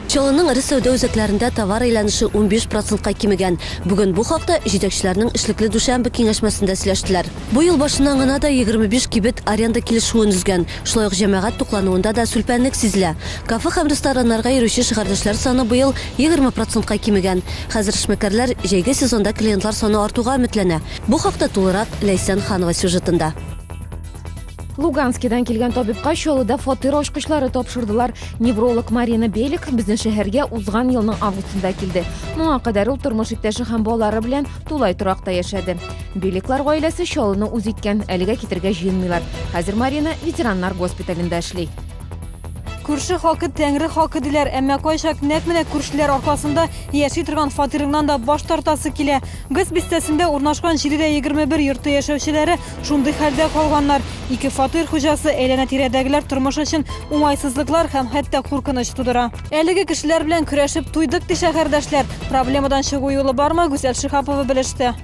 Чаллының эре сәүдә үзәкләрендә товар әйләнеше унбиш процентка кимегән. Бүген бу хакта җитәкчеләрнең эшлекле дүшәмбе киңәшмәсендә сөйләштеләр. Бу ел башыннан гына да егерме биш кибет аренда килешүен өзгән. Шулай ук җәмәгать туклануында да сүлпәнлек сизелә. Кафе һәм рестораннарга йөрүче шәһәрдәшләр саны быел егерме процентка кимегән. Хәзер эшмәкәрләр җәйге сезонда клиентлар саны артуга өметләнә. Бу хакта тулырак Ләйсән Ханова сюжетында. Луганскидан килгән табибка Чаллыда фатир ачкычлары тапшырдылар. Невролог Марина Белик безнең шәһәргә узган елның августында килде. Моңа кадәр ул тормыш иптәше һәм балалары белән тулай торакта яшәде. Беликлар гаиләсе Чаллыны үз иткән, әлегә китергә җыенмыйлар. Хәзер Марина ветераннар госпиталендә эшли. Күрше хакы тәңре хакы диләр, әмма кайчак нәкъ менә күршеләр аркасында яши торган фатирыңнан да баш тартасы килә. Гыз бистәсендә урнашкан җиде дә егерме бер йорты яшәүчеләре Шундый хәлдә калганнар. Ике фатир хуҗасы әйләнә-тирәдәгеләр тормыш өчен уңайсызлыклар һәм хәтта куркыныч тудыра. Әлеге кешеләр белән көрәшеп туйдык, ди шәһәрдәшләр. Проблемадан чыгу юлы бармы, Гүзәл Шиһапова белеште.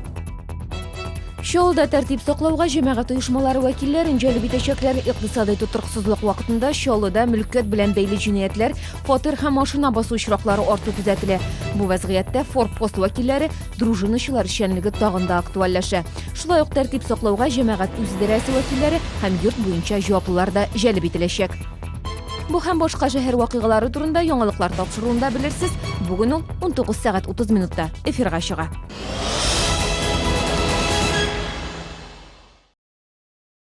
Чаллыда тәртип саклауга җәмәгать оешмалары вәкилләрен җәлеп итәчәкләр. Икътисадый тотрыксызлык вакытында Чаллыда мөлкәт белән бәйле җинаятьләр, фатир һәм машина басу очраклары арту күзәтелә. Бу вәзгыятьтә Форпост вәкилләре Дружиначылар эшчәнлеге тагын да актуальләшә. Шулай ук тәртип саклауга җәмәгать үзидарәсе вәкилләре һәм йорт буенча җаваплылар да җәлеп ителәчәк. Бу һәм башка шәһәр вакыйгалары турында яңалыклар тапшыруында белерсез, бүген ул 19 сәгать 30 минутта эфирга чыга.